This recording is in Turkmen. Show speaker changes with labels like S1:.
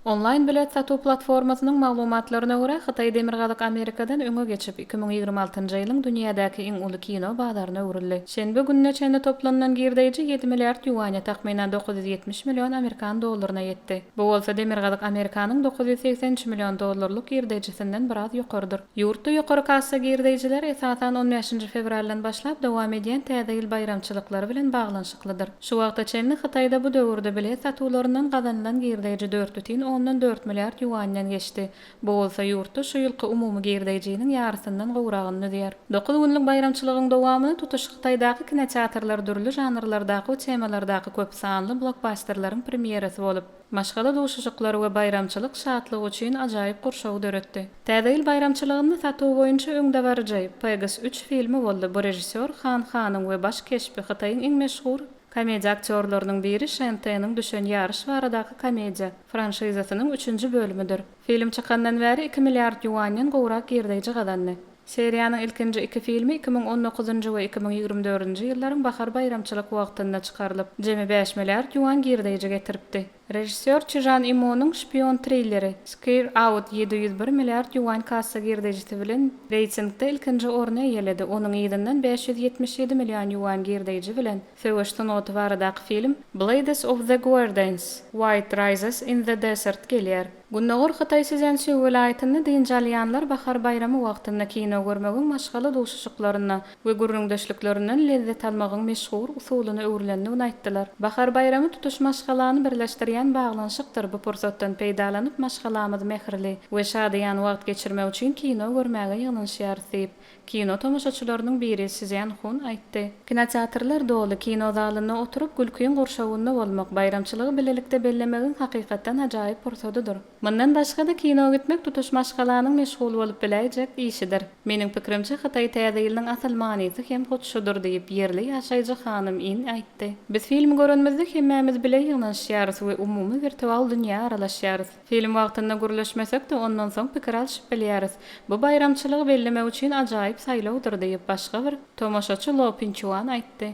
S1: Onlaýn bilet satuw platformasynyň maglumatlaryna görä, Hytaý Demirgazyk Amerikadan öňe geçip, iki müň ýigrimi altynjy ýylyň dünýädäki iň uly kino bazaryna öwrüldi. Şenbe gününe çenli toplanylan girdeýji ýedi milliard ýuaňa, takmynan dokuz ýüz ýetmiş million amerikan dollaryna ýetdi. Bu bolsa Demirgazyk Amerikanyň dokuz ýüz segsen üç million dollarlyk girdeýjisinden biraz ýokarydyr. Ýurtda ýokary kassa girdeýjileri, esasan, on bäşinji fewraldan başlap dowam edýän Täze ýyl baýramçylyklary bilen baglanyşyklydyr. Şu wagta çenli Hytaýda bu döwürde bilet satuwlaryndan gazanylan girdeýji dört bütin ondan dört milliard ýuanden geçdi. Bu bolsa ýurtda şu ýylky umumy girdeýjiniň ýarysyndan gowragyny düzýär. Dokuz günlük baýramçylygyň dowamynda tutuş Hytaýdaky kinoteatrlar dürli žanrlardaky we temalardaky köp sanly blokbasterleriň premýerasy bolup, Maşgala duşuşyklary we baýramçylyk şatlygy üçin ajaýyp gurşawy döretdi. Täze ýyl baýramçylygynda satuw boýunça öňdebaryjy Pegasus üç filmi boldy, bu režissýor Han Hanyň we baş keşbi Hytaýyň iň meşhur komediýa aktýorlarynyň biri Şen Teniň düşen ýaryş baradaky komediýa franşizasynyň üçünji bölümidir. Film çykandan bäri iki milliard ýuanýdan gowrak girdeýji gazandy. Seriýanyň ilkinji iki filmi iki müň on dokuzynjy we iki müň ýigrimi dördünji ýyllaryň bahar baýramçylyk wagtynda çykarylyp, jemi bäş milliard ýuan girdeýji getiripdi. Režissýor Çži Žan Ýimonyň şpion trilleri Scare Out ýedi ýüz bir milliard ýuan kassa girdeýjisi bilen reýtingde ilkinji orny eýeledi, onuň yzyndan bäş ýüz ýetmiş ýedi million ýuan girdeýji bilen söweş sungaty baradaky film Blades of the Guerdans, White Rises in the Desert gelýär. Gündogar Hytaý Szýansi welaýatynda dynç alýanlar bahar baýramy wagtynda kino görmegiň maşgala duşuşyklaryndan we gürrüňdeşliklerinden lezzet almagyň meşhur usulyna öwrülendigini aýtdylar. Bahar baýramy tutuş maşgalany birleşdirýän baglanyşykdyr, bu pursatdan peýdalanyp maşgalamyz mähirli we şadyýan wagt geçirmek üçin kino görmäge ýygnanyşýarys diýip, Kino tomaşaçylarynyň biri Szýan Hun aýtdy. Kinoteatrlar doly, kino zalynda oturyp, gülkiň gurşawynda bolmak, baýramçylygy bilelikde bellemegiň hakykatdan ajaýyp pursadydyr. Mundan başga-da, kino gitmek tutuş maşgalanyň meşgul bolup biläýjek işidir. Meniň pikirimçe, hytaý Täze ýylynyň asyl manysy hem hut şudur diýip, ýerli ýaşaýjy hanym In aýtdy. Biz film görenimizde hemmämiz bile ýygnanyşýarys we umumy wirtual dünýä aralaşýarys. Film wagtynda gürleşmesek-de, ondan soň pikir alşyp bilýäris. Bu baýramçylygy bellemek üçin ajaýyp saýlawdyr diýip, başga bir tomaşaçy Lo Pinçuan aýtdy.